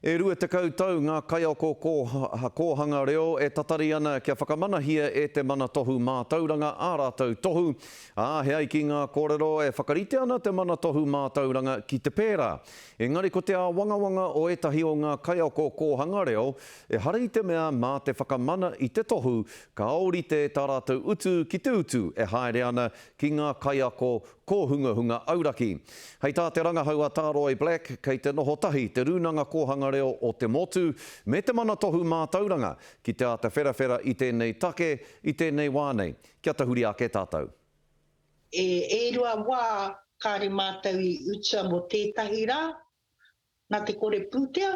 E rua tekau tau ngā kaiako kōhanga reo e tatari ana kia whakamanahia e Te Mana Tohu Mātauranga ā rātou tohu, ā, he ai ki ngā kōrero e whakarite ana Te Mana Tohu Mātauranga ki te pērā. Engari ko te āwangawanga o ētahi o ngā kaiako kōhanga reo, ehara i te mea mā te whakamana i te tohu ka ōrite tā rātou utu ki te utu e haere ana ki ngā kaiako Kōhungahunga Auraki. Hei tā te rangahau a Tāroe Black, kei te noho tahi Te Rūnanga Kōhanga Reo o te Motu me Te Mana Tohu Mātauranga ki te āta wherawhera i tēnei take i tēnei wā nei, kia tahuri ake tātou. E rua wā kāre mātou i utua mō tētahi rā, nā te kore pūtea,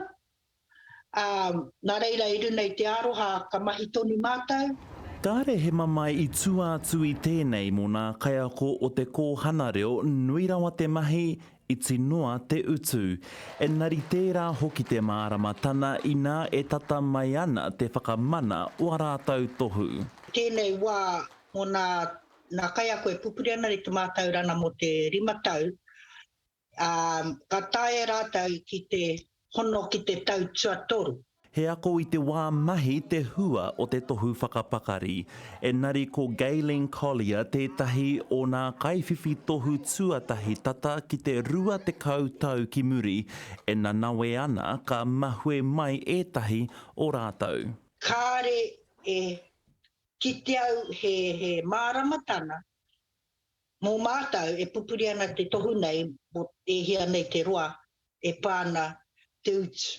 ā, nā reira i runa i te aroha ka mahi tonu mātou. Kāre he mamae i tua atu i tēnei mō nā kaiako o te kōhana reo nui rawa te mahi, iti noa te utu. Engari tērā hoki te māramatana inā e tata mai ana te whakamana o a rātou tohu. I tēnei wā mō nā kaiako e pupuri ana i te mātaurana mō te rima tau, Ā, ka taea rātou ki te hono ki te tau tuatoru. He ako i te wā mahi te hua o te tohu whakapakari. Engari ko Gayleen Collier tētahi o nā kaiwhiwhi tohu tuatahi tata ki te rua tekau tau ki muri e nanawe ana ka mahue mai ētahi o rātou. Kāre e kite au he māramatanga Mō mātou e pupuri ana te tohu nei mō e hia nei te roa e pā ana te utu.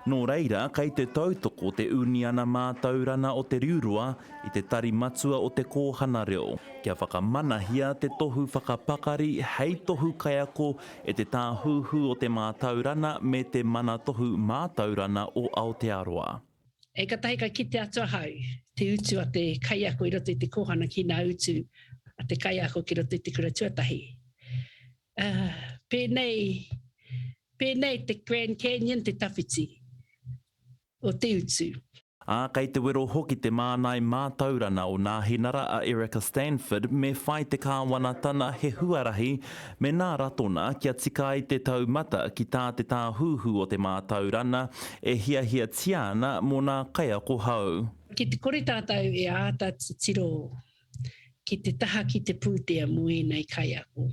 Nō reira, kei te tautoko te Uniana Mātaurana o Te Riuroa i te Tari Matua o Te Kōhana Reo kia whakamanahia te tohu whakapakari hei tohu kaiako e te Tāhuhu o te Mātaurana me te Manatohu Mātaurana o Aotearoa. E katahi ka kite atu ahau te utu a te kaiako i roto i te kōhana ki nā utu a te kaiako ki roto i te kura tuatahi. Aa, pēnei, pēnei te Grand Canyon te tawhiti o te utu. Ā, kei te wero hoki te mānai mātaurana o Nāhinara a Erica Stanford me whai te Kāwanatana he huarahi Mēnā Ratona kia tika ai te taumata ki tā te Tāhuhu o te Mātaurana e hiahiatia ana mō nā kaiako hou. Ki te kore tātou e āta titiro ki te taha ki te pūtea mō ēnei kaiako,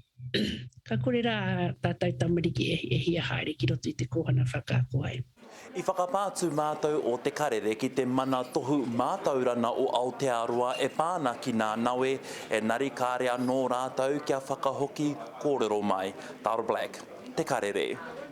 ka kore rā ā tātou tamariki e hia haere ki roto i te kōhanga whakaako ai. I whakapā atu mātou o Te Karere ki te mana tohu mātaurana o Aotearoa e pā ana ki nā nawe, enari kāre anō rātou kia whakahoki kōrero mai. Dale Black, Te Karere.